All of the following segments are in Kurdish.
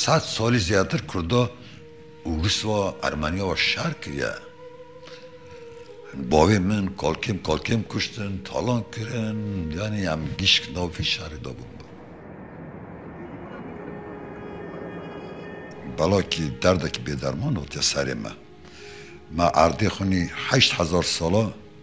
Sed salî zêdetir kurda Û riswa Ermeniya wa şer kiriye. Bavê min kalkêm kalkêm kuştin, talan kirin, yanî em gişk nav vî şerê de bûn. Belakî derdekî bêderman hatiye serê me. Me erdê xwinî heşt hezar sala.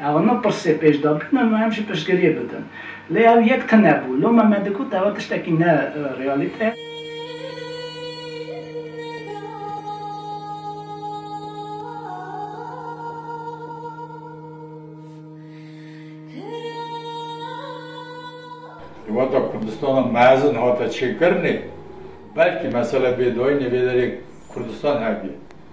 Ew ne pirsê pêş de bûn û em jî piştgiriyê bidin. Lê ew yek tune bû. Loma me digot ew tiştekî ne realîte ye. Di wata Kurdistana mezin hate çêkirinê, belkî mesele bêdayînê vê derê Kurdistan hebî.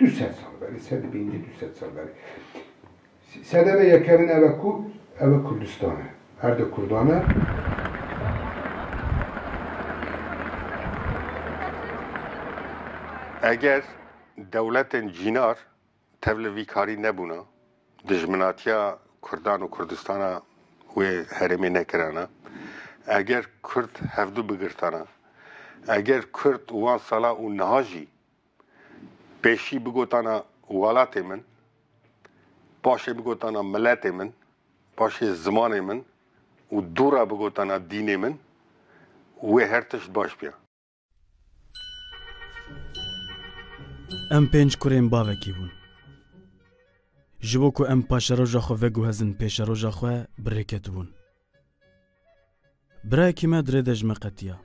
Du sed sal berê, sed bîn dê du sed sal berê. Sedeme yekemine eve ku eve Kurdistan e. Erde Kurdan e. Eger dewletên cînar tev li vî karî nebûna, dijminatiya Kurdan û Kurdistana wê herêmê nekirana, eger Kurd hevdu bigirtana, eger Kurd wan sala û niha jî Pêşî bigotana welatê min, paşê bigotana miletê min, paşê zimanê min û dûra bigotana dînê min, wê her tişt baş biya. Em pênc kurên bavekî bûn. Ji bo ku em paşeroja xwe veguhezin pêşeroja xwe, birêketibûn. Birayekî me dirê de ji me qetiya.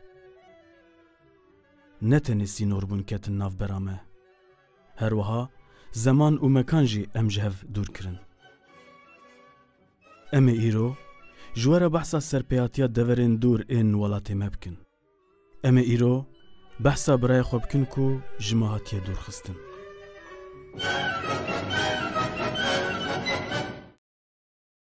Ne tenê sînorbûn ketin navbera me. Her wiha zeman û mekan jî em ji hev dûr kirin. Em ê îro ji we re behsa serpêhatiya deverên dûr ên welatê me bikin. Em ê îro behsa birayê xwe bikin ku ji me hatiye dûrxistin.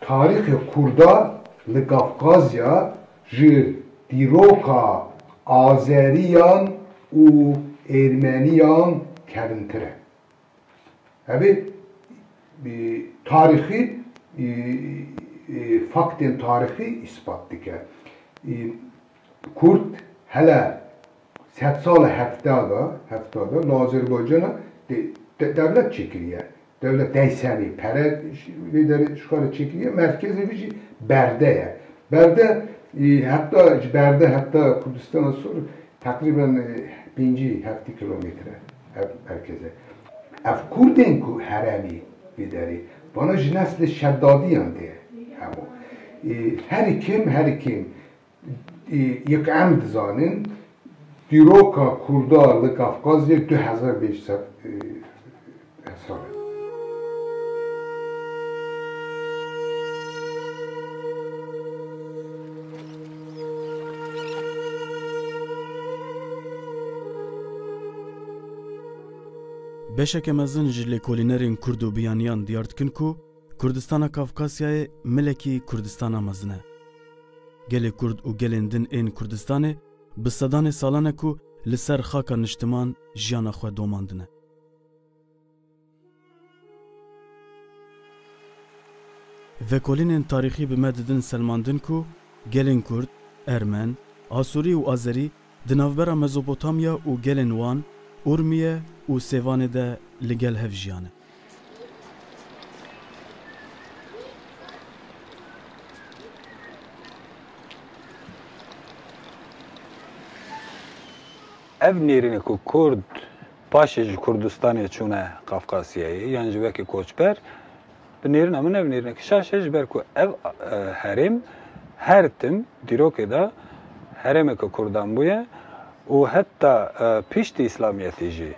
Tarîxê Kurdan li Kafkazya ji dîroka Azeriyan û Êrmeniyan kevntir e. Ev ê tarîxî faktên tarîxî îspat dike. Kurd hele Sed sala hefta de, hefta de li Azerbaycana dewlet çêkiriye. Dewlet dey semê, pere vê derê şikare çêkiriye. Merkezê vê jî berde ye. Berde heta ji berde heta Kurdistana Sor teqrîben pêncî heftî kilometre e ev merkeze. Ev Kurdên ku heremê vê derê vana ji neslê Şeddadiyan de ye hemû. Herî kêm herî kêm Yek em dizanin dîroka Kurda li Kafkazyê du hezar pênc sed sal e. Beşeke mezin ji lêkolînerên Kurd û biyaniyan diyar dikin ku, Kurdistana Kafkasyayê milekî Kurdistana mezin e. Gelê Kurd û gelên din ên Kurdistanê bi sedanê salan e ku li ser xaka niştiman jiyana xwe domandine. Vekolînên tarîxî bi me didin selmandin ku gelên Kurd, Ermen, Asûrî û Azerî Di navbera Mezopotamya û gelên wan, Urmiye û Sêvanê de li gel hev jiyane. Ev nêrîne ku kurd paşê ji Kurdistanê çûne Qafqasiyayê yan jî wekî koçber, Bi nêrina min ev nêrîneke şaş e ji ber ku ev herêm her tim dîrokê de herêmeke kurdan bûye û heta piştî îslamiyetê jî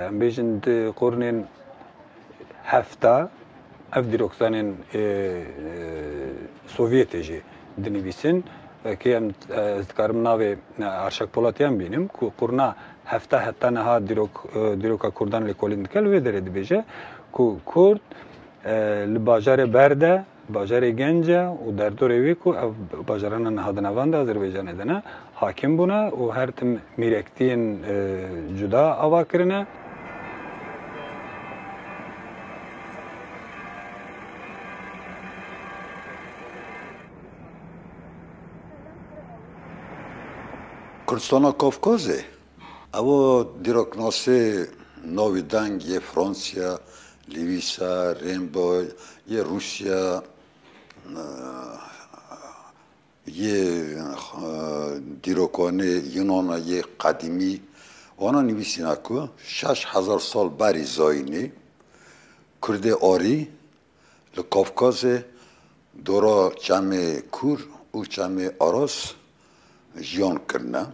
em bêjin di qurnên hefta ev dîrokzanên sovyetê jî dinivîsin. Vekê em ez dikarim navê Arşak Polatyan bînim ku qurna Hevta heta niha dîrok dîroka Kurdan lêkolîn dike li wê derê dibêje ku Kurd li bajarê ber de bajarê genc e û derdorê wî ku ev bajarana niha di nevan de Azerbaycanê de ne hakim bûne û her tim mîrektiyên cuda ava kirine. Kurdistana Kafkazê, ew dîroknasê navî deng yê Fransiya, Lewîsa, Rêmbo yê Rûsiya yê dîrokanê Yunana yê qedîmî wana nivîsîna ku şeş hezar sal berî zayînî kurdê arî Li Kafkazê dora Çemê Kûr û Çemê Aras jiyan kirine.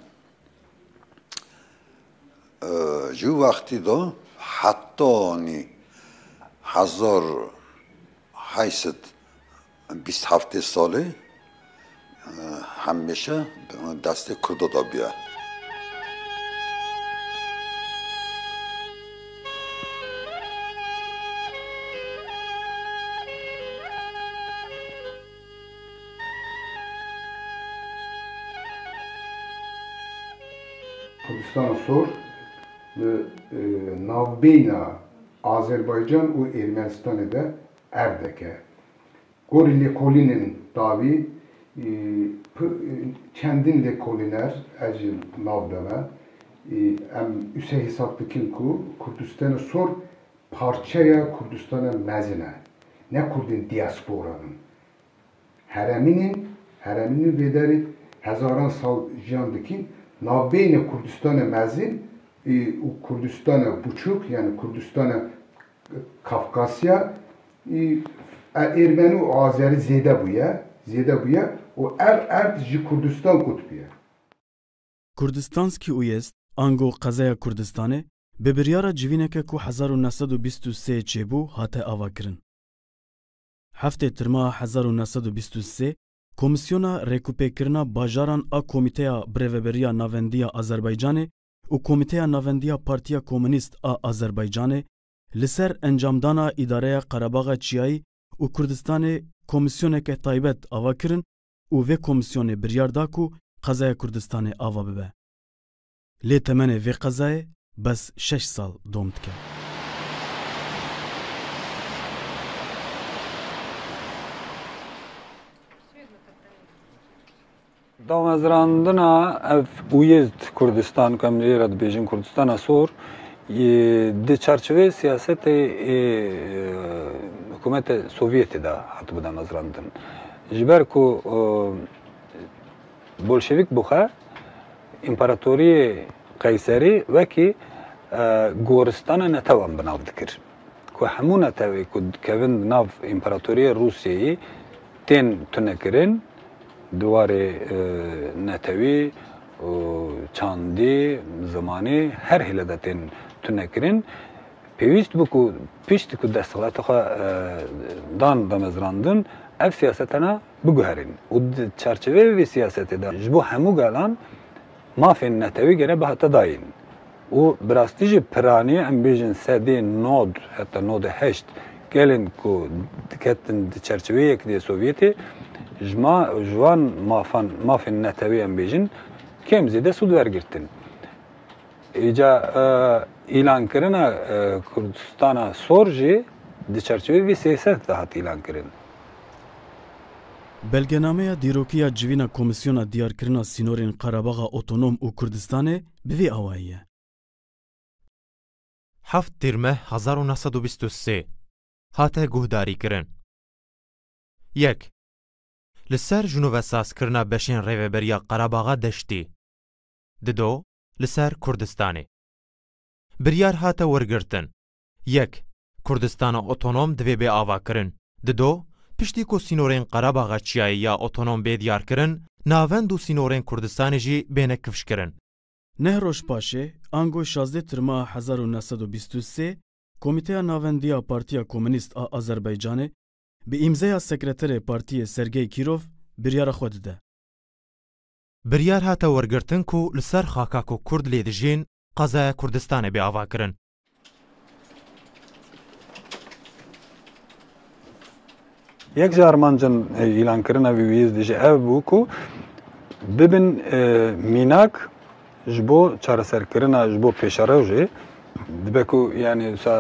Ji wî wextî de hetanî hezar heşt sed bîst heftê salê Hemişe destê Kurdo de bûye. Kurdistana Sor li navbeyna Azerbaycan û Ermenistanê de erdeke. Gorî lêkolînên dawî çendîn lêkolîner ez jî nav de me em wise hesab dikin ku Kurdistana Sor parçeya Kurdistana Mezin e. Ne Kurdên diasporan in. Heremîn in, heremîn in vê derê hezaran sal jiyan dikîn. Navbeyna Kurdistana Mezin û Kurdistana Biçûk yanî Kurdistana Kafkasya î Ermeni û Azeri zêde bûye zêde bûye û ev erd ji Kurdistan kutbûye. Kurdistanski Uyezd, ango Qezeya Kurdistanê, bi biryara civîneke ku hezar û neh sed û bîst û sê çêbû hate avakirin. Heftê Tirma a hezar û neh sed û bîst û sê, Komîsyona Rêkûpêkirina Bajaran a Komîteya Birêveberiya Navendiya Azerbaycanê û Komîteya Navendî ya Partiya Komûnîst a Azerbaycanê li ser encamdana Îdareya Qerebaxa Çiyayî û Kurdistanê komîsyoneke taybet ava kirin û vê komîsyonê biryar da ku qezaya Kurdistanê ava bibe. Lê temenê vê qezayê bes şeş sal dom dike. Damezrandina ev Uyezd Kurdistan ku em li wê re dibêjin Kurdistana Sor di çarçiveyê siyasetê hikûmeta Sovyetê de hatibû damezrandin. Ji ber ku Bolşevîk bûxe Împaratoriyê Qeyserî wekî goristana netewan bi nav dikir. ku hemû netewê ku dikevin di nav Împaratoriyê Rûsyeyê tên tunekirin, di warê netewî, çandî, zimanî her hêle de tên tunekirin. Pêwîst bû ku piştî ku desthilatê xwe dan damezrandin ev siyasete ne biguherîn û di çarçeveyê vê siyasetê de ji bo hemû gelan, Mafên netewî gere bi hate dayîn û bi rastî jî piranî em bêjin sedê nod heta nodê heşt gelên ku diketin di çerçiveyê Yekîtîya Sovyetê ji ma ji wan mafan mafên netewî em bêjin kêm zêde sûd wergirtin. Îca îlankirina Kurdistana Sor jî di çerçiveyê vê sêset de hat îlankirin. Belgenameya dîrokiya civîna Komîsyona Diyarkirina Sînorên Qerebaxa Otonom û Kurdistanê bi vî awayî ye. Heft Tîrmeh hezar û neh sed û bîst û sê hate guhdarîkirin. Yek Li ser jinovesazkirina beşên Rêveberiya Qerebaxa Deştî di do li ser Kurdistanê biryar hate wergirtin Yek, Kurdistana otonom divê bê avakirin. Di do, piştî ku sînorên Qerebaxa Çiyayê ya otonom bê diyarkirin, navend û sînorên Kurdistanê jî bêne kifşkirin. Neh roj paşê, ango şazdeh Tirma a hezar û neh sed û bîst û sê, Komîteya Navendî ya Partîya Komînîst a Azerbaycanê bi îmzeya Sekreterê Partîyê Sergey Kirov biryara xwe dide. Biryar hate wergirtin ku li ser xaka ku Kurd lê dijîn, Qezaya Kurdistanê bê avakirin. Yek ji armancên îlankirina vî wîyîzdî jî ev bû ku bibin mînak ji bo çareserkirina ji bo pêşerewjê dibe ku yanî wisa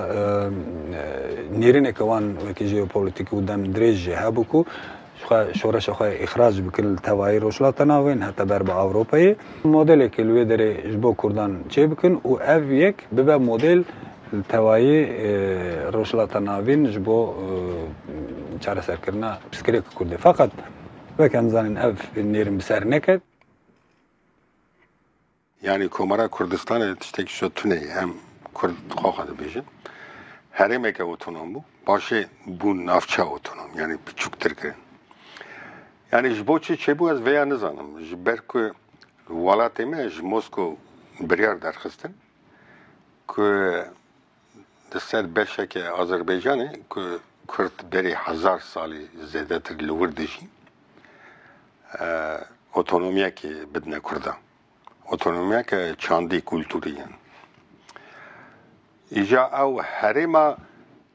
nêrîneke wan wekî jeopolîtîk û dem dirêj jî hebû ku ji xwe şoreşa xwe îxrac bikin li tevayî Rojhilata Navîn heta ber bi Ewropayê, modelekê li wê derê ji bo Kurdan çê bikin û ev yek bibe model li tevayî Rojhilata Navîn ji bo çareserkirina pirsgirêka Kurdê. Feqet weke em zanîn ev nêrîn bi ser neket. Yanî Komara Kurdistanê tiştekî şo tune ye. Em Kurd xwe xwe dibêjin. Herêmeke otonom bû. Paşê bûn navçeya otonom. Yanî piçûktir kirin. Yanî ji bo çi çêbû ez vêya nizanim. Ji ber ku welatê me ji Moskow biryar derxistin ku di ser beşeke Azerbaycanê ku Kurd berê hezar salî zêdetir li wir dijîn otonomiyekê bidine Kurdan. otonomiyeke çandî kulturî ye. Îja ew herêma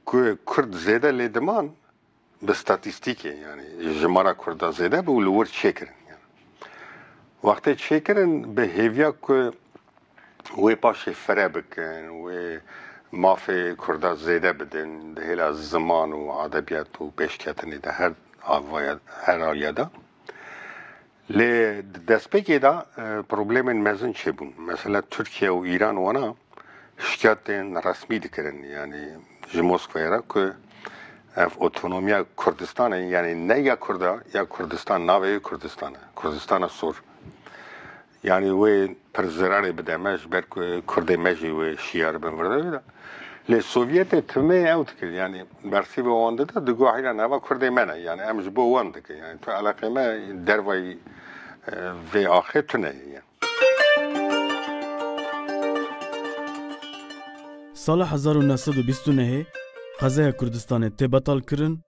ku kurd zêde lê diman bi statîstîkê yanî jimara kurda zêde bû li wir çêkirin. Wextê çêkirin bi hêviya ku wê paşê fire bikin, wê mafê kurda zêde bidin di hêla ziman û edebiyat û pêşketinê de her aliyada. Lê di destpêkê de problemên mezin çêbûn. Mesela Tirkiye û Îran wana şikayetên resmî dikirin yanî ji Moskwayê re ku ev otonomiya Kurdistanê yanî ne ya Kurd e ya Kurdistan navê wê Kurdistan e. Kurdistana sor. Yanî wê pir zirarê bide me ji ber ku kurdê me jî wê şiyar bin virdevê de. Lê Sovyetê timeyê ew dikir yanî bersîva wan dida di goh înan eva kurdê me ne yanî em ji bo wan dikin yanî tu eleqê me dervayî vê axê tu neyê yan. Sala hezar û neh sed û bîst û nehê qezeya Kurdistanê tê betalkirin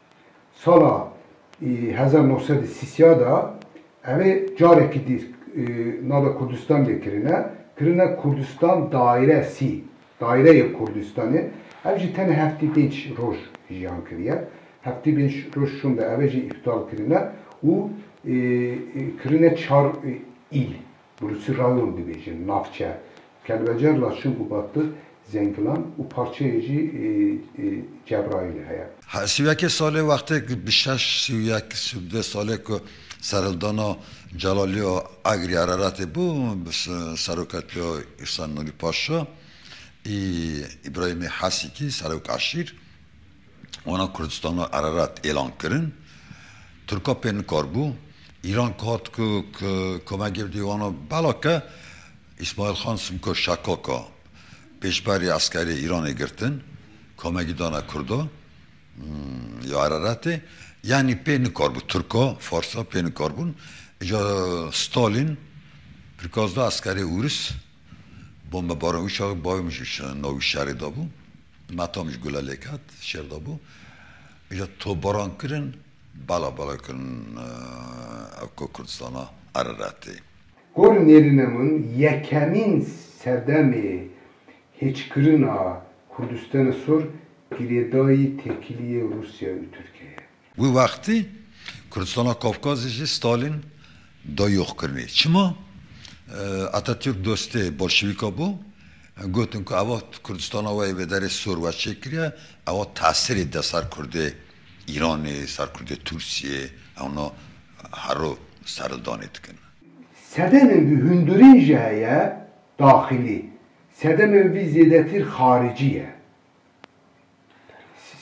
Sala hezar nav sed û sî sîya de ev ê carekî dî nava Kurdistan lê kirine, kirine Kurdistan Daîre sî, Daîre yê Kurdistanê. Ev jî tenê heftî pênc roj jiyan kiriye. Heftî pênc roj şûnde ev ê jî îptal kirine û kirine çar îl. Bi rûsî rayon dibêjin, navçe. Kelbecer la çûn bû battir, Zengilan û parçeyê jî Cebraîlê heye. Her sî û yekê salê wextê ku bi şeş sî û yek, sî û du salê ku serhildana Celalî û Egrî Ereretê bû bi seroketiya Îhsan Nûrî Paşa û Îbrahîmê Hesîkî, serok eşîr. Wana Kurdistana Ererat êlan kirin. Tirka pê nikar bû. Îran ki hat ku ki kome girtî wana bela ke Îsmaîl Xan Simko Şakaka pêşberî eskerê Îranê girtin komegî dane Kurda ya Ereratê. Yanî pê nikar bû Tirka, Farsa pê nikar bûn. Îja Stalîn pirkaz da eskerê Ûris bombebaran wî şerê bavê min jî navî şerê dabû. Natam ji gula lêk hat şer dabû îja tobaran kirin bala bala kirin ev ku Kurdistana Ereretê. Gorî nêrîne min yekemîn sedemê hêçkirina Kurdistene Sur girêdayî têkiliyê Rûsya û Tirkiyeyê ye. Wî wextî Kurdistana Kafkazê jî Stalîn da yoxkirinê. Çima? Atatürk dostê Bolşevîka bû, gotin ku ewa Kurdistana we yê bi derê sor we çêkiriye, ewa tesirê de ser Kurdê Îranê, ser Kurdê Tursiyê, ewna hero serdanê dikin. Sedemên vî hundirîn jî heye daxilî, sedemên vî zêdetîr xaricî ye.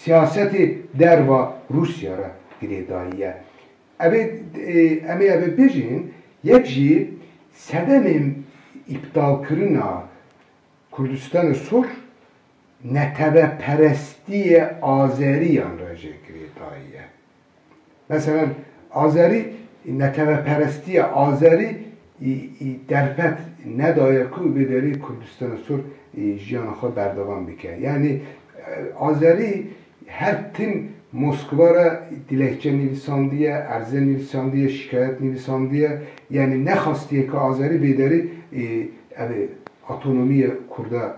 Siyasetê derva Rûsya re girêdayî ye. Ev ê em ê ev ê bijîn, yek jî sedemê îptalkirina Kurdistanê Sûr neteweperestiyê Azeriyan re jê girêdayî ye. Meselen Azerî neteweperestiya Azerî î derfet nedaye ku vê derê Kurdistana Sor jiyana xwe berdevam bike. Yanî Azerî her tim Moskva re dilekçe nivîsandiye, erze nivîsandiye, şîkayet nivîsandiye yanî nexastiye ku Azerî vê derê ev ê otonomîya Kurda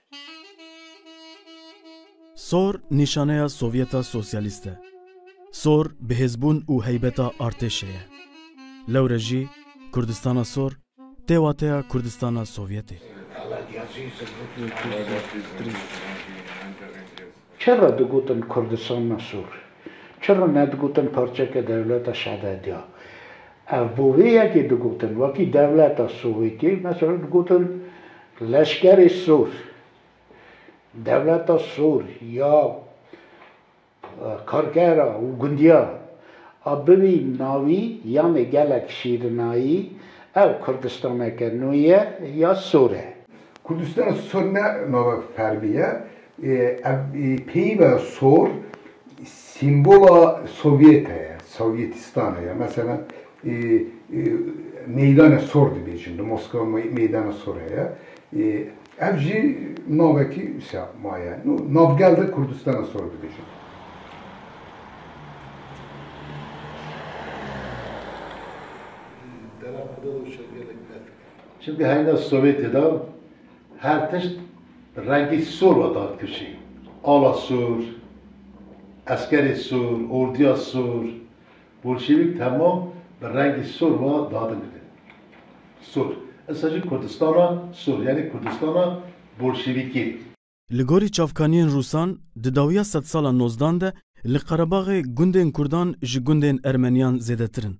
Sor nîşaneya Sovyeta Sosyalîst e. Sor bihêzbûn û heybeta artêşê ye. Lewre jî Kurdistana Sor tê wateya Kurdistana Sovyetê. Çi re digotin Kurdistan na sûr? Çi re nedigotin parçeke dewleta Şadedya? Ev bo vê yekê digotin. Wekî dewleta Sowêtiyê mesela digotin leşkerê sûr, dewleta sûr ya karkera û gundiya. A bibî navî yanê gelek şîrinayî ew Kurdistaneke nû ye ya sûr e. Kurdistan sûr ne nava fermî ye. Ev peyva sor sîmbola Sovyete ye, Sovyetîstane ye. Meselan Meydane Sor dibêjin, li Moskwa Meydane Sor heye. Ev jî navekî wisa maye. Nû navgel de Kurdistane Sor dibêjin. Dera xwe de doşe gelek berf kir. Çimkî heyna Sovyetê de Her tişt bi rengî sor ve dihat kişîn. Ala sor, eskerê sor, ordiya sor. Bolşevîk temam bi rengî sor ve dihatin didin. Sor. Issa jî Kurdistana sor yanî Kurdistana Bolşevîkê. Li gorî çavkaniyên Rûsan, di dawiya sedsala nozdan de li Qerebaxê gundên Kurdan ji gundên Ermeniyan zêdetir in.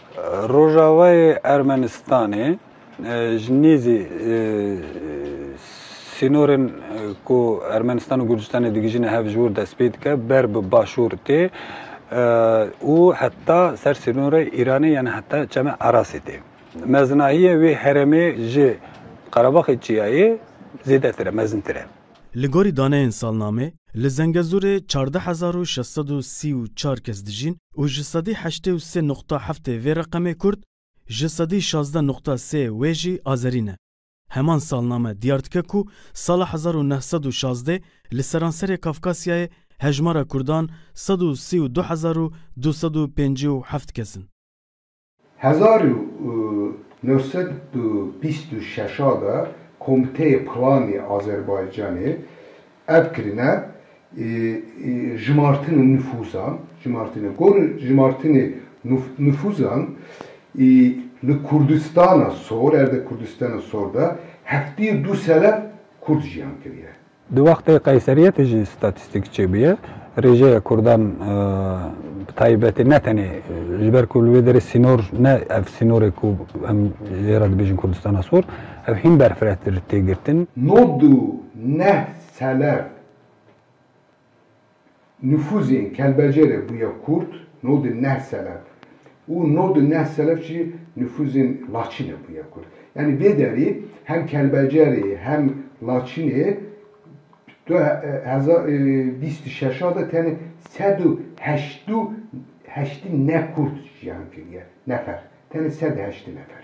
Rojavayê Ermenistanê ji nêzî sînorên ku Ermenistan û Gurcistanê digihîjine hev ji wir dest pê dike, ber bi başûr tê û heta ser sînorê Îranê yanî heta çeme Erasê tê. Mezinahiyê wê herêmê ji Qerebaxê Çiyayê zêdetir e, mezintir e. Li gorî daneyên salnamê, li Zengezûrê çardeh hezar û şeş sed û sî û çar kes dijîn û ji sedî heştê û sê nuqta heftê vê reqemê Kurd, ji sedî şazdeh nuqta sê wê jî Azerî ne. Heman salname diyar dike ku sala hezar û neh sed û şazdê li seranserê Kafkasyayê hejmara Kurdan sed û sî û du hezar û du sed û pêncî û heft kes in. Hezar û neh sed û bîst û şeş a de Komiteyê Planê Azerbaycanê ev kirine jimartina nifûzan, jimartina ku jimartina nifûzan li Kurdistana Sor, erdê Kurdistana Sor de heftê û du selef kurd jiyan kiriye. Di wextê Qeyseriyetê jî statîstîk çêbûye. Rêjeya Kurdan bi taybetî ne tenê ji ber ku li wê derê sînor ne ev sînorê ku em jê re dibêjin Kurdistana Sor, ev hîn berfirehtir tê girtin. No du neh selef. Nifûzê Kelbecere bûye kurt no di neh selef û no di neh selef jî nifûzê Laçîne bûye kurt. Yanî vê derî hem Kelbecerê hem Laçînê du hezar û bîst û şeş de tenê sed û heştî neh kurt jiyan kiriye. Nefer. Tenê sed û heştî nefer.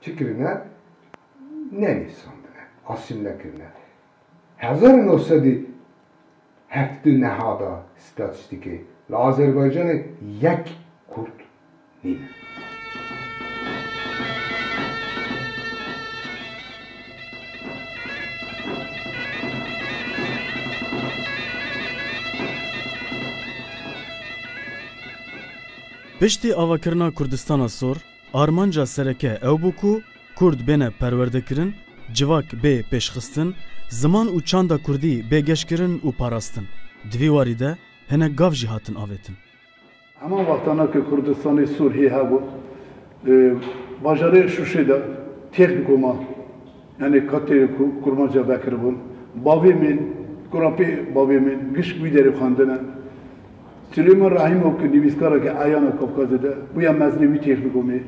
Çi kirine? Nenivîsandine, asîmle kirine. Hezar û neh sed û heft û neh da statîstîkê li Azerbaycanê yek kurd nîne. Piştî avakirina Kurdistana Sor, Armanca sereke ew bû ku Kurd bêne perwerdekirin, civak bê pêşxistin, ziman û çanda Kurdî bê geşkirin û parastin. Di vî warî de hinek gav jî hatin avêtin. Heman wextana ku Kurdistanê Sûr hê hebû, li bajarê Şûşê de têx bi koma yanê kateyê ku kurmanca vekiribûn, bavê min, kurapê bavê min gişt wî derê xwendine. Silêman Rahîmov ku nivîskareke eyana Kafkazê de bûye mezinê wî têx dikomê.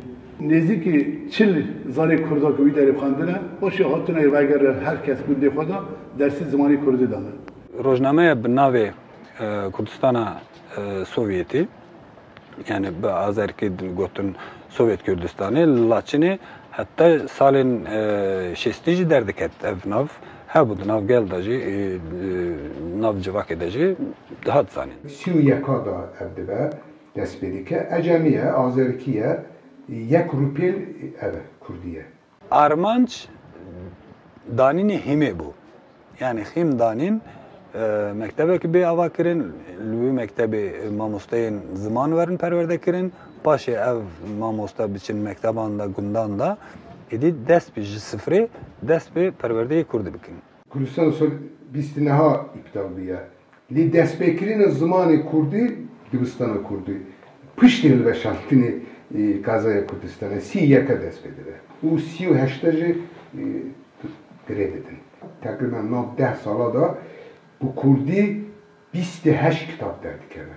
Nêzîkî çil zarê kurd a ku wî derê xwendine, paşê hatinayî reger re her kes gundê xwe de dersî zimanê kurdî dane. Rojnameya bi navê Kurdistana Sovyetî yanî bi azerkî gotin Sovyet Kurdistanê li Laçinê heta salên şêstî jî derdiket ev nav. Hebû di nav gel de jî, di nav civakê de jî dihat zanîn. Sî û yeka de ev dibe dest pê dike. Ecemî ye, azerikî ye, yek rûpêl ev e, kurdî ye. Armanc danînê hîmê bû. Yanî hîm danîn mektebekî bê avakirin, li wî mektebê mamosteyên ziman werin perwerdekirin. Paşê ev mamoste biçin mekteban de, gundan de, êdî dest bi ji sifrê dest bi perwerdeyê kurdî bikin. Kurdistan sal bîst û neha îptal bûye. Lê destpêkirina zimanê kurdî dibistana kurdî piştî hilweşandinê Kazaya Kurdistanê sî û yek e dest pê dibe û sî û heşt e jî girê didin. Teqrîben nav deh sala de bi kurdî bîst û heşt kitab derdikeve.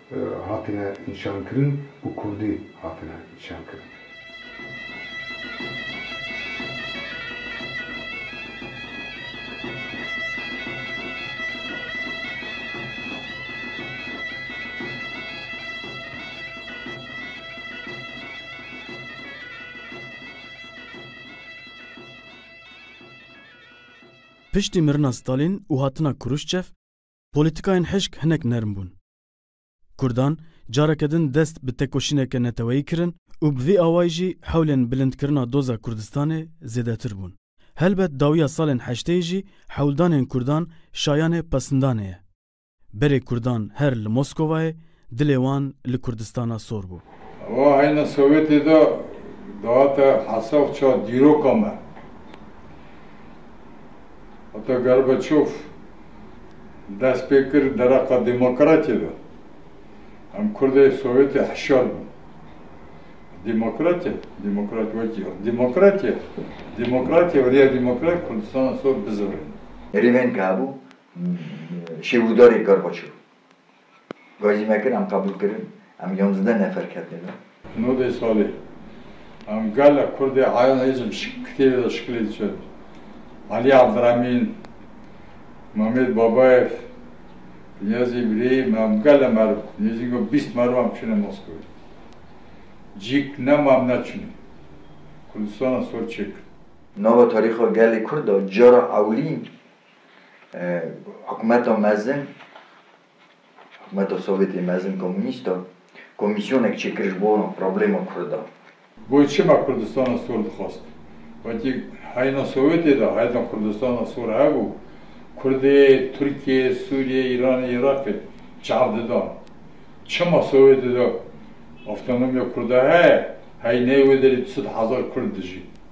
Hatine nîşankirin û kurdî hatine nîşankirin. Piştî mirina Stalîn û hatina Kuruşçev, Polîtîkayên hişk hinek nerm bûn. Kurdan careke din dest bi tekoşîneke neteweyî kirin û bi vî awayî jî hewlên bilindkirina doza Kurdistanê zêdetir bûn. Helbet dawiya salên heşteyî jî hewldanên kurdan şayanê pesindanê ye. Berê kurdan her li Moskovayê Dilê wan li Kurdistana sor bû. Ewa heyna Sowetê de dihate hesaf ça dîroka me. Heta Gorbaçov dest pê kir dereqa demokratiyê de. Em Kurdê Sowetê hişyar bûn. Demokratiyê, demokrat wekî demokratiyê, demokratiyê viriya demokrat Kurdistana sor bizewirîne. Rêvên ke hebû, şêwirdarê Gorbaçov. Gajî me kir, em qebûl kirin, em yonzdeh nefer ketine da. Nodê salê. Em gala kurdê ayan hêzim şik kitêbê da şikilê diçe. Alî Evdiremîn, Mamêd Babayev, Niyazî Îbrîhîm em gala meriv, nêzîngo bîst meriv em çûne Moskowê. Cîk nema em neçûnê. Kurdistana sor çêkir. Nava tarîxa gelê kurd da cara ewilîn Hikûmeta mezin, hikûmeta Sovyetê mezin komûnîst a, komîsyonek çêkir ji bo problêma kurdan. Goy çima Kurdistana Sor dixwest? Wekî heyna Sovyetê de heyetên Kurdistana Sor hebû, Kurdê, Tirkê, Sûriyê, Îranê, Îraqê çav didan. Çima Sovyetê de Avtonomiya Kurda heye, heyneyê wê derî du sed hezar Kurd dijîn?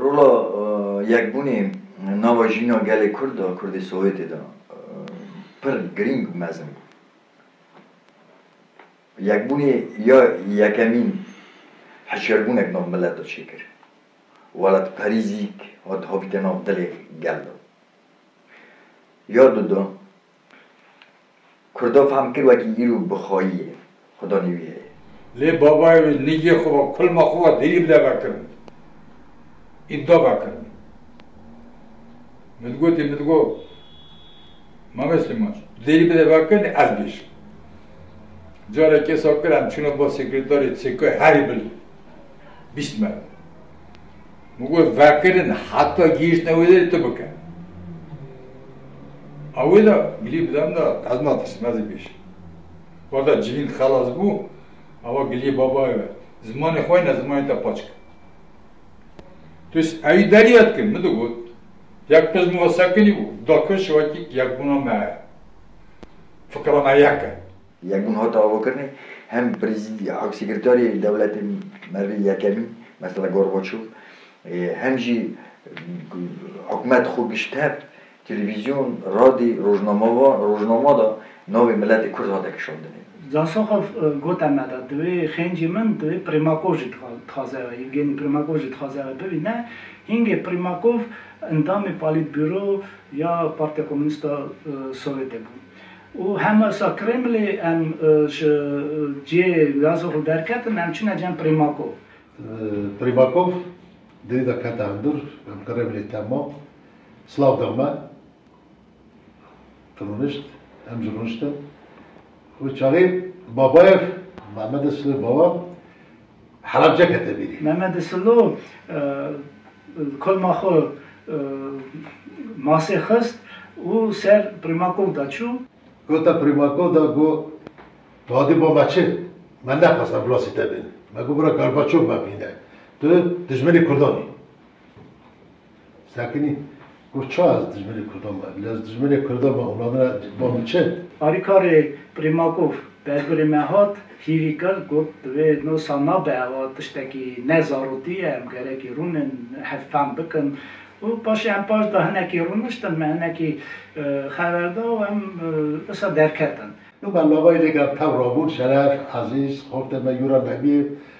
Rola yekbûnê nava jîna gelê Kurd a Kurdê Sowêtê de pir girîng û mezin bû. Yekbûnê ya yekemîn hişyarbûnek nav milet de çêkir. Welatperî zî hat habite nav dilê gel de. Ya di de. Kurdo fam kir wekî îro bi xwayî ye, xwedanî wî heye. Lê babayê wî nigê xwe ve kulma xwe ve dêrî bide vekird. Îbda vekird. Min gotî, min got, Mame Slîman tu dêrî bide vekirnê ez bêjim. Carek kesa kir em çûne ba sekretarê CK'ê herî bil bîst merdim. Min got vekirin heta gihîştine wê derê tu bike. A wê de gilî bide min de ez natirsim ez ê bêjim. Wata civîn xelas bû ewa giliyê babayê ve zimanê xwe ne zimanê te paç kir. Tu ewî derya dikir min digot yek qij min ve sekinî bû dakir şiwekî yekbûna me heye. Fikra me yek e. Yekbûn hat avakirinê hem prezîdî ak sekretarê dewletê merivê yekemî mesela Gorbaçov ê hem jî ku hikûmet xwe gişt hev televîzyon, radî, rojnama va rojnama de navê miletê kurd hate kişandinê. Zasoxov got em meda divê xêncî min divê Primakov jî dixwaze ew Yevgenî Primakov jî dixwaze ew bibîne hîngê Primakov endamê Polîtburo ya Partiya Komûnîst a Sowetê bû. Û hema sa Kremlê em ji cihê Lazov li derketin, em çûne cem Primakov. Primakov derî de kete hundir, em Kremlê tem ma, silav da me, rûnişt, em jî rûniştin. Wê çaxê Babayev, Mehmedê Silê Baba, Helebce kete bîrê. Memedi Silo li kolma xwe masê xist û ser Primakov de çû. Gota Primakov de got, Tu hatî bo me çi? Me nexwest embulasî te bîne. Me got, Bira Gorbaçov me bîne. Tu dijminê kurdan î. Sekinî Got ça ez dijminê kurdan be? Lê ez dijminê kurdan be ûna min e ba min çi? Alîkarê Primakov bergurê me hat, hîrî kir, got di vê nosa nabe ewa tiştekî ne zarotî ye, em gerekî rûnin, hev fehm bikin. Û paşê em paş de hinekî rûniştin, me hinekî xever da û em wisa derketin. Nû me labayî lê ger tev rabûn, Şeref, Ezîz, Xortê me Yûra Nebî,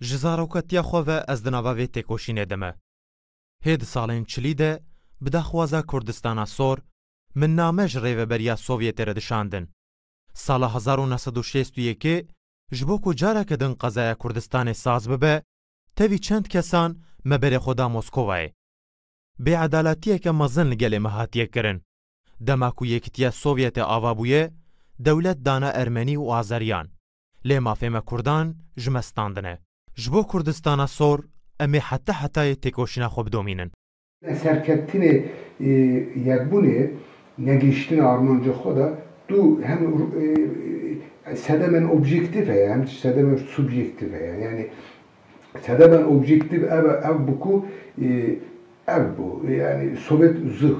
Ji zaroketiya xwe ve ez di nava vê têkoşînê de me. Hê di salên çilî de bi daxwaza Kurdistana Sor min name ji Rêveberiya Sovyetê re dişandin. Sala hezar û neh sed û şêst û yekê ji bo ku careke din qezaya Kurdistanê saz bibe, tevî çend kesan me berê xwe da Moskovayê. Bêedaletiyeke mezin li gelê me hatiye kirin. Dema ku Yekitiya Sovyetê ava bûye, dewlet dana Ermenî û Azeriyan. Lê mafê me Kurdan ji me standine. Ji bo Kurdistana sor em ê heta hetayê têkoşîna xwe bidomînin. Serkeftinê Yekbûnê negihiştina armanca xwe de tu hem sedemên objektîf heye hem jî sedemên subjektîf heye. Yanî Sedemen objektîf ev e, ev bû ku ev bû. Yanî Sowet zû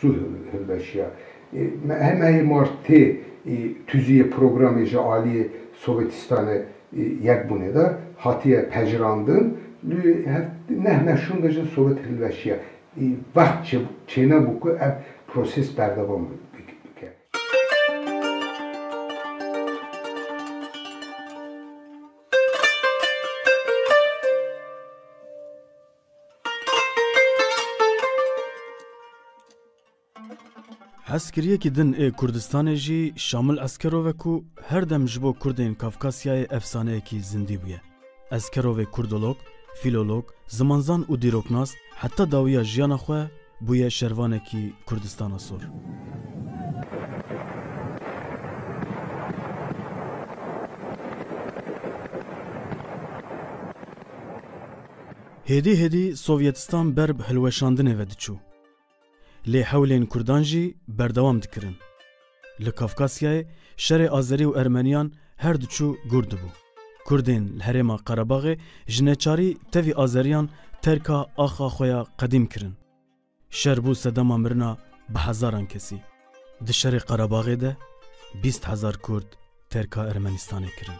zû hilweşiya. Me hemeyê mar tê tûziyê programê ji aliyê Sowetîstanê Yekbûnê de hatiye pejirandin. Li hev neh meşûn de jî Sowet hilweşiya. Wext çênebû ku ev proses berdewam bike. Hezkiriyekî din ê Kurdistanê jî Şamil Eskerov e ku her dem ji bo Kurdên Kafkasyayê efsaneyekî zindî bûye. Eskerovê kurdolog, fîlolog, zimanzan û dîroknas heta dawiya jiyana xwe Bûye şervanekî Kurdistana sor. Hêdî hêdî Sovyetistan ber bi hilweşandinê ve diçû. Lê hewlên Kurdan jî berdewam dikirin. Li Kafkasyayê şerê Azerî û Ermeniyan her diçû gûr dibû. Kurdên li herêma Qerebaxê ji neçarî tevî Azeriyan terka axa xwe ya qedîm kirin. Şer bû sedema mirina bi hezaran kesî. Di şerê Qerebaxê de bîst hezar Kurd terka Ermenistanê kirin.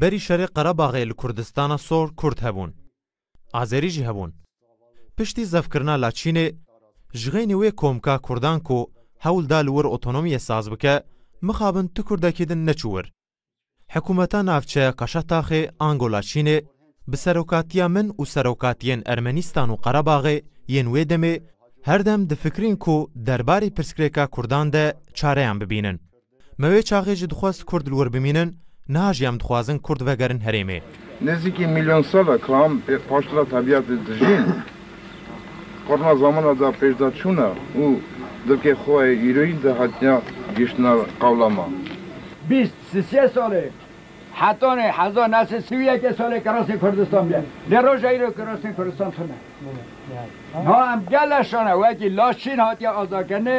Berî şerê Qerebaxê li Kurdistana Sor Kurd hebûn. Azerî jî hebûn. Piştî zevkirina Laçînê, ji xeynî wê komka Kurdan ku hewl da li wir otonomiyê saz bike, mixabin tu Kurdekî din neçû wir. Hikûmeta navçe ya Kaşataxê, Angola Çînê bi serokatiya min û serokatiyên Ermenîstan û Qerebaxê yên wê demê her dem difikirîn ku derbarê pirsgirêka kurdan de çareyan bibînin. Me wê çaxê jî dixwest kurd li wir bimînin, niha jî em dixwazin kurd vegerin herêmê. Nêzîkî mîlyon sal e ka em pê paştira tebîatê dijîn. Qurna zamana da pêşda çûna û dilkê xo yê îroyî de hatiya gihiştina qewla ma. Bîst, sisê salê hetanê heza nesê si û yekê salê kirasê Kurdistan bîya. Lê roja îro kirasên Kurdistan tune. Niha em gele şane wekî laş çîn hatiya azakirinê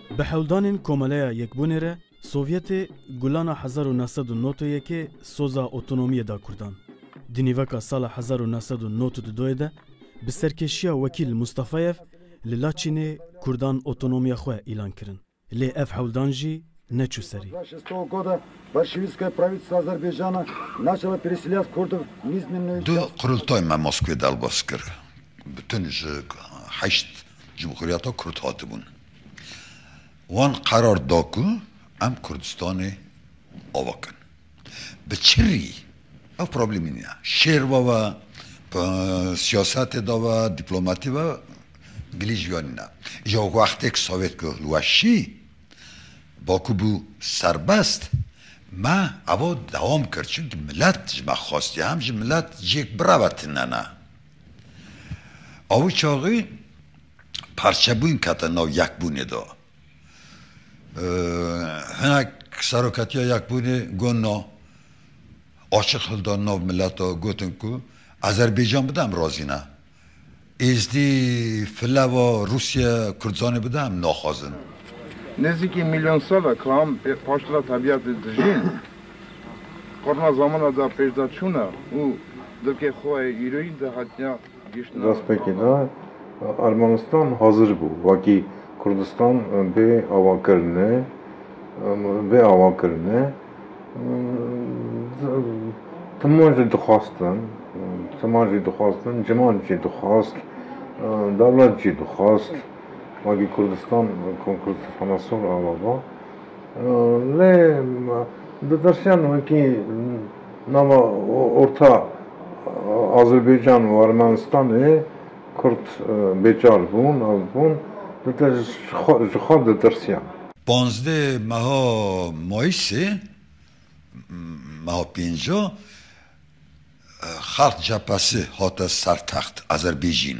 Bi hewldanên Komeleya Yekbûnê re Sovyetê gulana hezar û neh sed û nod û yekê soza otonomiyê da Kurdan. Di nîveka sala hezar û neh sed û nod û du doyê de bi serkêşiya Wekîl Mustafayev li Laçînê Kurdan otonomiya xwe îlan kirin. Lê ev hewldan jî neçû serî. Di qurultayê me Moskwê derbas kir, bi tun ji heşt cumhuriyeta Kurd hatibûn. Wan qerar da ku em Kurdistanê ava bikin. Bi çi rî? Ev problemî nîn e. Şêr ve ve, siyasetê de ve, dîplomatî ve gilî ji we nîn e. Îja wextê ku Sowêt ku li we şî, Bakur bû serbest, me eva dewam kir. Çimkî milet ji me xwestiye. Em ji milet cihêk bire ve tune ne. Ew çaxî parçebûn kete nav yekbûnê de. Hinek seroketiya yekbûnê got na. Açiq hildan nav milete gotin ku Azerbaycan bide em razî ne. Êzdî, Fleva, Rûsya Kurdistanê bide em naxwazin. Nêzîkî mîlyon sal e kam pê paştira tebîyatê dijîn. Xurna zamana da pêşda çûna û dilkê xwe yê îroyîn de hatiya gihîştina. Destpêkê de Ermenistan hazir bû wekî Kurdistan bê avakirine bê avakirine timan jî dixwastin timan jî dixwastin ciman jî dixwast dewlet jî dixwast wekî Kurdistan Konkursu Hemesor ava ba. Lê ditirsiyan wekî nava orta Azerbaycan û Ermenistanê Kurd bêçar bûn, ev bûn ji xwe ditirsiyan. Panzdeh meha Mayîsê, meha pênca, Xalq Cephesi hate sertext Azerbêjîn.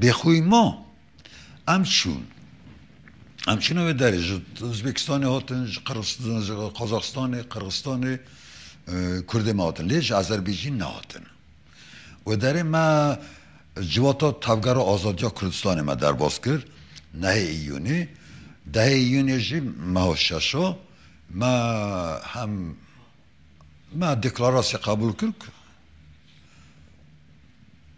Bêxwî ma em çûn. Em çûne wê derê. Ji Uzbekistanê hatin, ji Qazaxistanê, Qirxistanê Kurdê me hatin. Lê ji Azerbîcîn nehatin. Wê derê me civata Tevgera Azadiya Kurdistanê me derbas kir. Nehê Îyûnê. Dehê Îyûnê jî meha şeş a me hem me deklarasye qebûl kir ku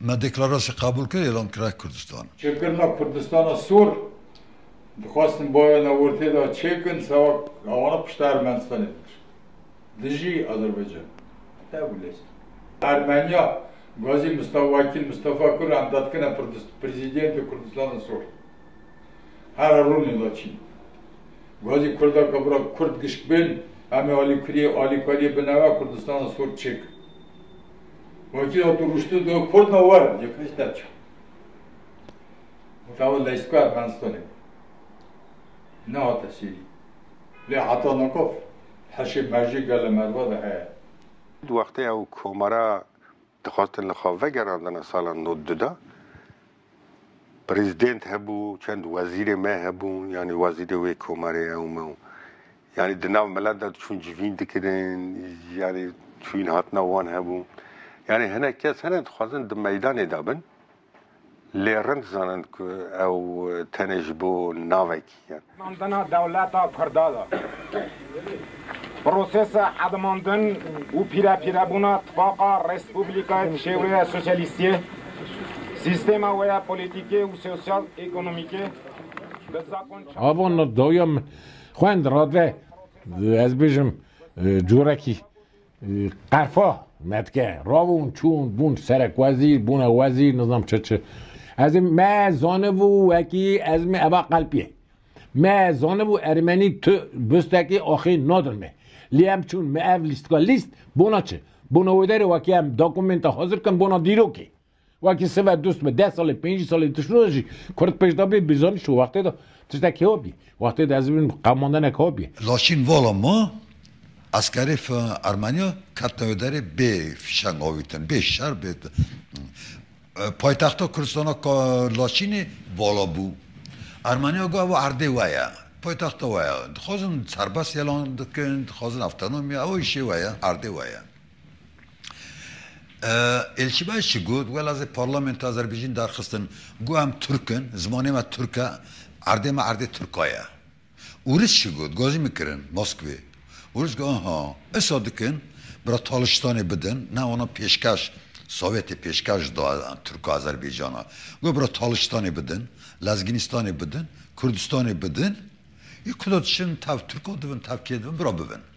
Me deklarasye qebûl kir êlan kira Kurdistan. Çêkirina Kurdistana Sor, dixwastin bavê ne ortê de çêkin sewa awana pişta Ermenistanê bikir dijî Azerbaycan. Heta wî lez. Ermeniya Gazî Musta Wakîl Mustafa Kur endadkine Prezîdiyente Kurdistana Sor. Hera rûnê laçîn. Gwazî kurdaka bira kurd gişk bên, em ê alîkuriyê, alîkariyê bi nava Kurdistana sor çêkin. Wakî hato rûştin got, Kurd ne werin, yek hişt ne çar. Mutava Leysko Ermenistanê bû. Nehate sîrî. Lê heta nikof heşê merjê gele merva de heye. Di wextê ew komara dixwestin li xwe vegerandina sala nod du de, Prezident hebû, çend wezîrê me hebûn, yanî wezîrê wê komarê ew me û yanî di nav milet de diçûn civîn dikirin, yanî çûyîn hatina wan hebû. Yanî hinek kes hene dixwazin di meydanê de bin lê rind zanin ku ew tenê ji bo navek kirin. Xwendina dewleta Kurda de prosesa hedimandin û pîrepîrebûna tifaqa respublikayê bi şêweyê sosyalîstiyê, sîstema wê ya polîtîkê û sosyal-ekonomîkê bi zakon çar Ava na dawîya min xwendira de ez bêjim corekî Qerfa, Metke, ravûn, çûn, bûn serekwezîr, bûne wezîr, nizam çi çi. Ez ê me zanibû wekî ez mi eva qelpî. Me zanibû ermenî tu bistekî axê nadin me. Lê em çûn mi ev lîstika lîst bona çi? Bona wê derê wekî em dokumenta hazir kin bona dîrokê. Wekî sive dust me deh salî pêncî salî tiştî de jî kurd pêş de bê bi zanîşt û wextê de tiştek hewa bî. Wextê de ez bîm qemandenek hewa bî. Laçîn vala ma eskerê Ermenîya ketine wê derê bê fîşeng avîtin, bê şer bê paytexta Kurdistana ka Laçînê vala bû. Ermenîya got ew erdê we ye, paytexta we ye. Dixwazin serbest yelan bikin, dixwazin avtonomî, ew îşê we ye, erdê we ye. Elçibaş jî got, Wela zê parlamentoya Azerbaycîn darxistin ku em Turk in, zimanê me Turk e, erdê me erdê Turka ye. Ûris jî got, Gazî min kirin Moskwê. Ûris got, Aha, esa dikin bira Talistanê bidin, ne wana pêşkeş, Sovyetê pêşkeş da Turka Azerbaycana. Got bira Talistanê bidin, Lezginistanê bidin, Kurdistanê bidin, yê ku da diçin tev Turka dibin, tev kê dibin, bira bibin.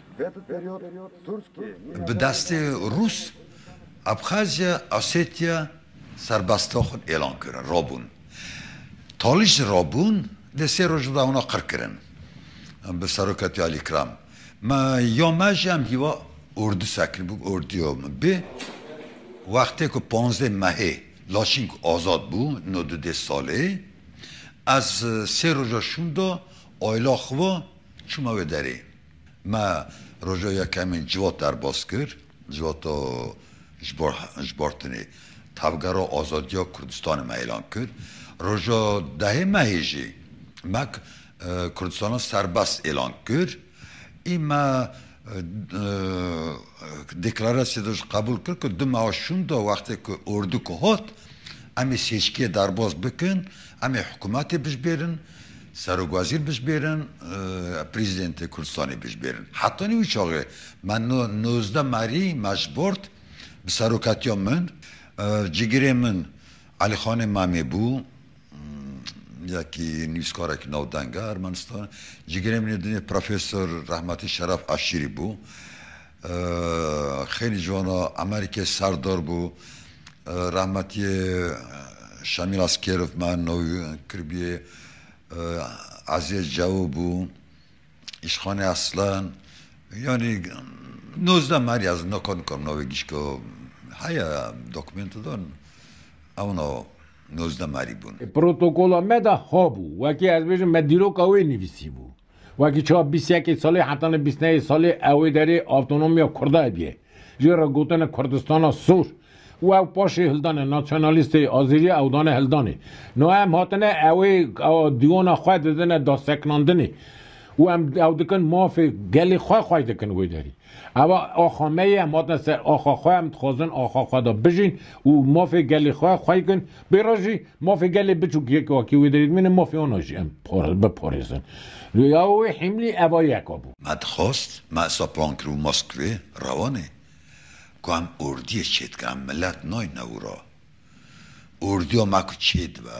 Bi destê Rûs, Abxazya, Osetya serbestîya xwe êlan kirin, rabûn. Talî ji rabûn dê sê roj bibe wana qir kirin bi Seroketî Alî Kram. Me ya me jî em hîwa ordu serkirin bû orduya me bê. Wextê ku panzdeh mehê Laçîn ku azad bû no du dê salê ez sê roja şûnda ayla xwe çûme wê derê. Me roja yekemîn civot derbas kir, civata ji bartinê Tevgera Azadiya Kurdistanê me îlan kir. Roja dehê mehê jî me Kurdistana Serbest îlan kir ê me deklarasyê de jî qebûl kir ku du meha şûnda wextê ku ordik hat em ê sêçkiyê derbas bikin, em ê hikûmetê bijbêrin. Serokwezîr bişbêrin, Prezîdentê Kurdistanê bişbêrin. Heta nî wî çaxê me nozdeh merî me ji bord bi seroketiya min cigirê min Elîxanê Memê bû, yekî nivîskarekî navdeng e Ermenistanê, cigirê min ê dinê Profesor Rehmetî Şeref Aşîrî bû. Xêlî ji wan re Amerîkê serdor bû. Rehmetiyê Şemîl Askêrov me navî kiribûyê Eziyê Cewo bû, Îşxanê Eslan yanî nozdeh merî ez naka nikarim navê gişka heye dokumênto de ewna nozdeh merî bûn. Protokola me de hebû wekî ez bêjim me dîroka wê nivîsîbû. Wekî çawa bîst yekê salî heta ne bîst neyê salî ewê derê avtonomiya Kurda hebîyê. Jê re gotine Kurdistana sor û ew paşê hildane nasyonalîstê Azerîya ew dane hildanê. No em hatine ewê diyona xwe didine daseknandinê û em ew dikin mafê gelê xwe xway dikin wê derî. Eva axa me ye, em hatine ser axa xwe, em dixwazin axa xwe de bijîn û mafê gelê xwe xwey bikin. Bê re jî mafê gelê biçûk yek a kî wê derê dimîne mafê wana jî em biparêzin. Ya wê hîmlî eva yeka bû. Me dixwast me Sapangir û Moskvê rewanê ku em ordiyê çêdikin, em milet nayîne wira. Ordiya me ku çêdibe.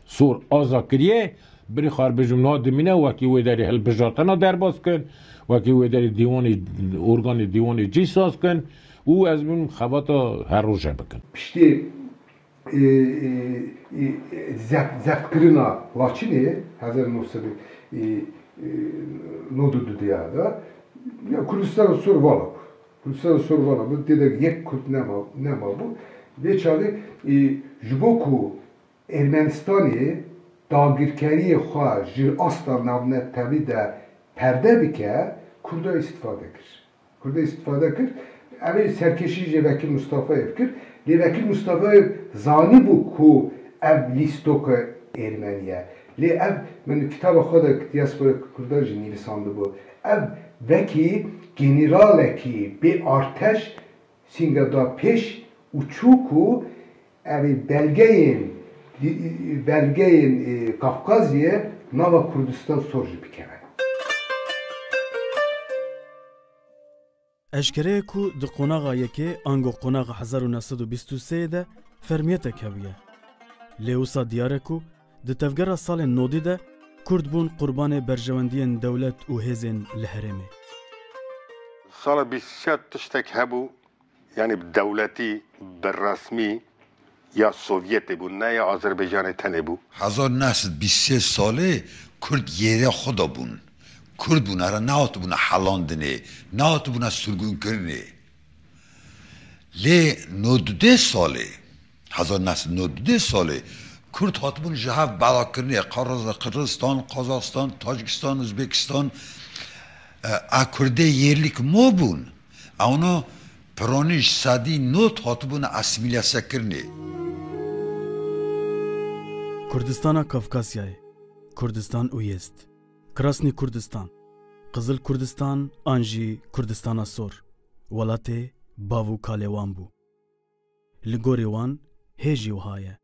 Sor Aza kiriye, binê xwe erbijm niha dimîne wekî wê derê hilbijartina derbas kin, wekî wê derê dîwanê organê dîwanê cî saz kin û ez bûm xebata her roje bikin. Piştî zextkirina Laçînê hezar û neh sed û nod û du de ya Kurdistana Sor vala bû. Kurdistana Sor vala bû tê de yek Kurd nemabû. Vê çavê ji bo ku Ermenistanê dagirkeriyê xwe ji asta navnetewî de perde bike, Kurda îstîfade kir. Kurda îstîfade kir. Ev ê serkêşî jê Vekîl Mustafayêv kir. Lê Vekîl Mustafayêv zanîbû ku ev lîstoka Ermenî ye. Lê ev min li kitaba xwe de Diaspora Kurda jî nivîsandibû. Ev wekî generalekî bê arteş Sînga da pêş û çû ku ev ê belgeyên belgeyên Kafkaziyê nava Kurdistan sor jî bikeve. Eşkere ye ku di qonaxa yekê ango qonaxa hezar û neh sed û bîst û sê yê de fermiyetek hebûye. Lê wisa diyar e ku Di tevgera salên nodî de Kurd bûn qurbanê berjewendiyên dewlet û hêzên li herêmê. Sala bîst û çar tiştek hebû yanî bi dewletî, bi resmî ya Sovyetê bû ne ya Azerbaycanê tenê bû. Hezar neh sed bîst û sê salê Kurd yêrê xwe de bûn. Kurd bûn here nehatibûne helandinê, nehatibûne sirgûnkirinê. Lê no du dê salê Hezar neh sed û nod û deh salê Kurd hatibûn ji hev belakirinê, Qaraza, Qirgistan, Qazaxistan, Tacikistan, Uzbekistan a Kurdê yêrlîk ma bûn, ewna piranîj sedî nod hatibûne asîmîlesekirinê. Kurdistana Kafkasyayê, Kurdistan Uyezd, Krasnî Kurdistan, Qizil Kurdistan an jî Kurdistana Sor, welatê bav û kalê wan bû. Li gorî wan hê jî wiha ye.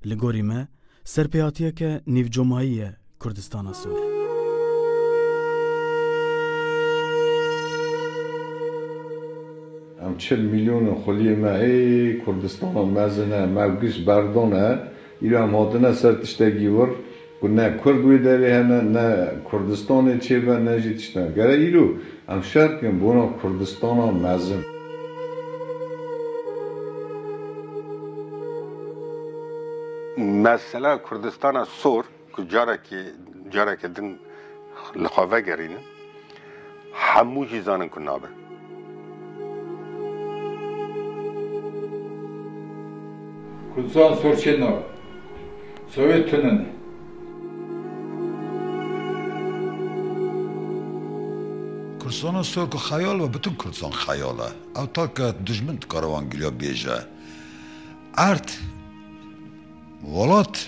Li gorî me ser pê hatiye ke nîvcomayî ye Kurdistana Sor. Em çil mîlyon in xuliyê me ê Kurdistana mezin e, mevgiş berdon e. Îro em hatine ser tiştekî wir ku ne kurd wê derê hene, ne Kurdistanê çêbe, ne jî tiştine. Gere îro em şer bikin bona Kurdistana mezin. Mesela Kurdistana sor. Ku carekê carekê din li xwe vegerînin, hemû jî zanin ku nabe. Kurdistan sorçê na be. Sowê tune ne. Kurdistana sor ku xeyal be, bütün Kurdistan xeyal e. Ew take dijmin dikare wan giliya bêje. Erd, welat.